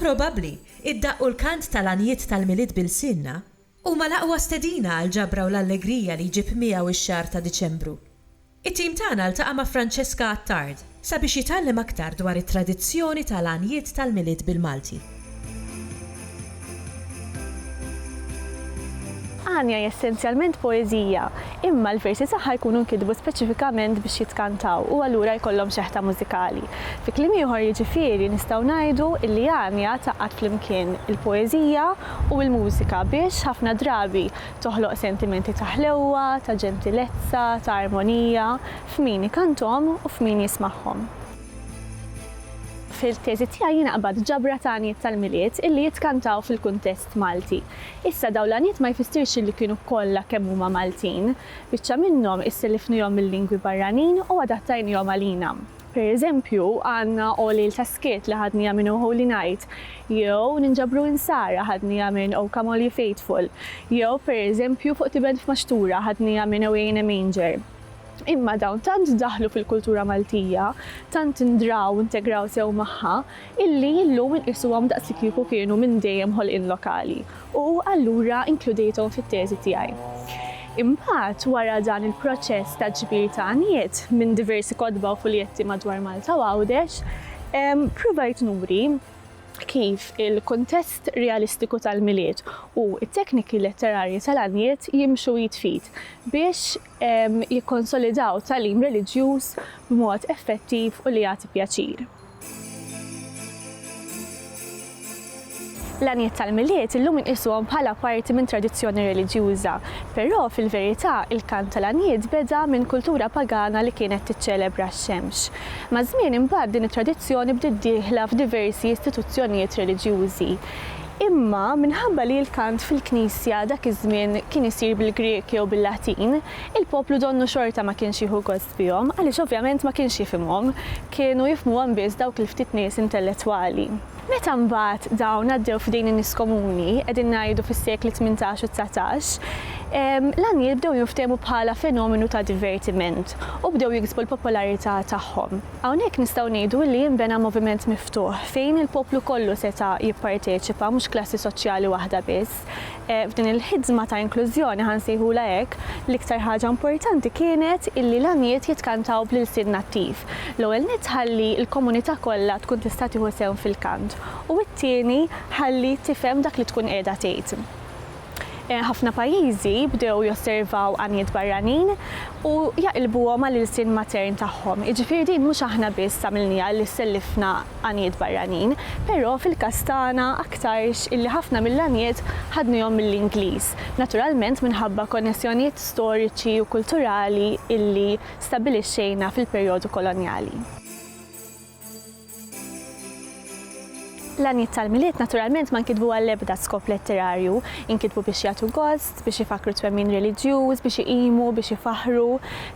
Probabbli, id-daqq u l-kant tal-għanjiet tal-Milied b'ilsienna huma l-aqwa stedina għall-ġabra u l-allegrija li jġib miegħu x-xahar ta' Diċembru. It-tim tagħna ltaqa' ma' Francesca Attard sabiex jitgħallem aktar dwar it-tradizzjoni ta' l-għanjiet tal-Milied bil-Malti. Għanja hi essenzjalment poeżija, imma l-versi tagħha jkunu nkitbu speċifikament biex jitkantaw u allura jkollhom xeħta mużikali. Fi kliem ieħor jiġifieri nistgħu ngħidu illi Għanja tgħaqqad flimkien il-poeżija u l-mużika biex, ħafna drabi, Toħloq sentimenti ta' ħlewwa, ta' ġentilezza, ta' armonija f'min ikanthom u f'min jismagħhom. Fil-teżi tiegħi jiena qbadt ġabra ta' għanjiet tal-Milied illi jitkantaw fil-kuntest Malti. Issa dawn l-għanjiet ma jfissirx illi kienu kollha kemm huma Maltin. Biċċa minnhom issellifnihom mil-lingwi barranin u adattajnihom għalina. Per eżempju, għandna O Lejl ta' Skiet li ħadniha minn O Holy Night, jew Ninġabru Insara ħadniha minn O Come All Ye Faithful, jew per eżempju Fuq Tiben F'Maxtura ħadniha minn Away in a Manger. Imma dawn tant daħlu fil-kultura Maltija, tant ndraw u ntegraw sew magħha, illi llum inqisuhom daqslikieku kienu minn dejjem ħolqien lokali u allura inkludejthom fit-teżi tiegħi. Imbagħad, wara dan il-proċess ta' ġbir ta' għanijiet minn diversi kotba u fuljetti madwar Malta u Għawdex, ppruvajt nuri kif il-kuntest realistiku tal-Milied u t-tekniki letterarji tal-għanijiet jimxu id f'id biex, jikkonsolidaw tagħlim reliġjuż b'mod effettiv u li jagħti pjaċir. L-għanijiet tal-Milied illum inqisuhom bħala parti minn tradizzjoni reliġjuża, però fil-verità il-kant tal-għanijiet beda minn kultura pagana li kienet tiċċelebra x-xemx. Maż-żmien imbagħad din it-tradizzjoni bdiet dieħla f'diversi istituzzjonijiet reliġjużi. Imma minħabba li l-kant fil-knisja dak iż-żmien kien isir bil-Grieg jew bil-Latin, il-poplu donnu xorta ma kienx jieħu gost bihom għaliex ovvjament ma kienx jifhimhom, kienu jifhmuhom biss dawk il-ftit nies intellettwali. Meta mbagħad dawn għaddew f'idejn in-nies komuni, qegħdin ngħidu fis-sekli tmintax u dsatax, l-għanjiet bdew jinftehmu bħala fenomenu ta' divertiment u bdew jiksbu l-popolarità tagħhom. Hawnhekk nistgħu ngħidu li jinbena moviment miftuħ fejn il-poplu kollu seta' jipparteċipa mhux klassi soċjali waħda biss. F'din il-ħidżma ta' inklużjoni, ħa nsejħulha hekk, l-iktar ħaġa importanti kienet illi l-għanjiet jitkantaw bl-ilsien nattiv. L-ewwel nett ħalli l-komunità kollha tkun tista' tieħu sehem fil-kant u t-tieni ħalli tifhem dak li tkun qiegħda tgħid. Ħafna pajjiżi bdew josservaw għanijiet barranin u jaqilbuhom għall-ilsien matern tagħhom. Jiġifieri din mhux aħna biss għamilniha li sellifna għanijiet barranin, però fil-każ tagħna aktarx illi ħafna mill-għanijiet ħadnihom mill-Ingliż, naturalment minħabba konnessjonijiet storiċi u kulturali illi stabbilixxejna fil-perjodu kolonjali. L-għanijiet tal-Milied naturalment ma nkitbu għall-ebda skop letterarju, inkitbu biex jagħtu gost, biex ifakkru twemmin reliġjuż, biex iqimu, biex ifaħħru.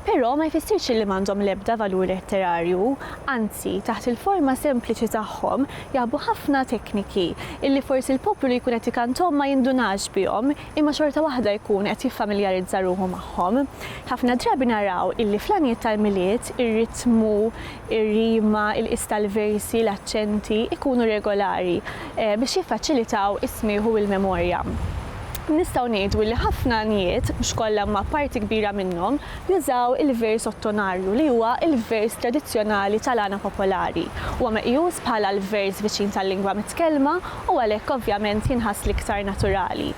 Però ma jfissirx li m'għandhom l-ebda valur letterarju. Anzi, taħt il-forma sempliċi tagħhom jaħbu ħafna tekniki illi forsi l-poplu li jkun qed ikanthom ma jindunax bihom imma xorta waħda jkun qed jiffamiljarizza ruħu magħhom. Ħafna drabi naraw illi fl-għanijiet tal-Milied ir-ritmu, ir-rima, il-qies tal-versi, l-aċċenti, ikunu regolari biex jiffaċilitaw is-smigħ u l-memorja. Nistgħu ngħidu li ħafna għanjiet, mhux kollha imma parti kbira minnhom, jużaw il-vers ottonarju li huwa l-vers tradizzjonali tal-għana popolari. Huwa meqjus bħala l-vers viċin tal-lingwa mitkellma u għalhekk ovvjament jinħass l-iktar naturali.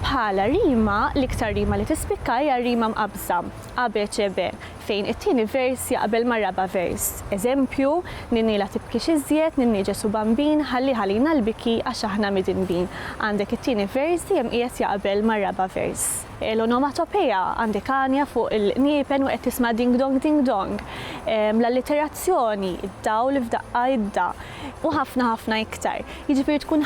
Bħala rima, l-iktar rima li tispikka hija r-rima mqabbża, A, B, C, B. fejn it-tieni vers jaqbel mar-raba' vers. Eżempju, Ninni la tibkix iżjed, Ninni Ġesù Bambin, ħallih għalina l-biki għax aħna midinbin. Għandek it-tieni vers dejjem qiegħed jaqbel mar-raba' vers. L-onomatopeja, għandek għanja fuq il-qniepen u qed tisma' ding-dong ding-dong. L-alliterazzjoni, id-dawl f'daqqa idda. U ħafna ħafna iktar. Jiġifieri tkun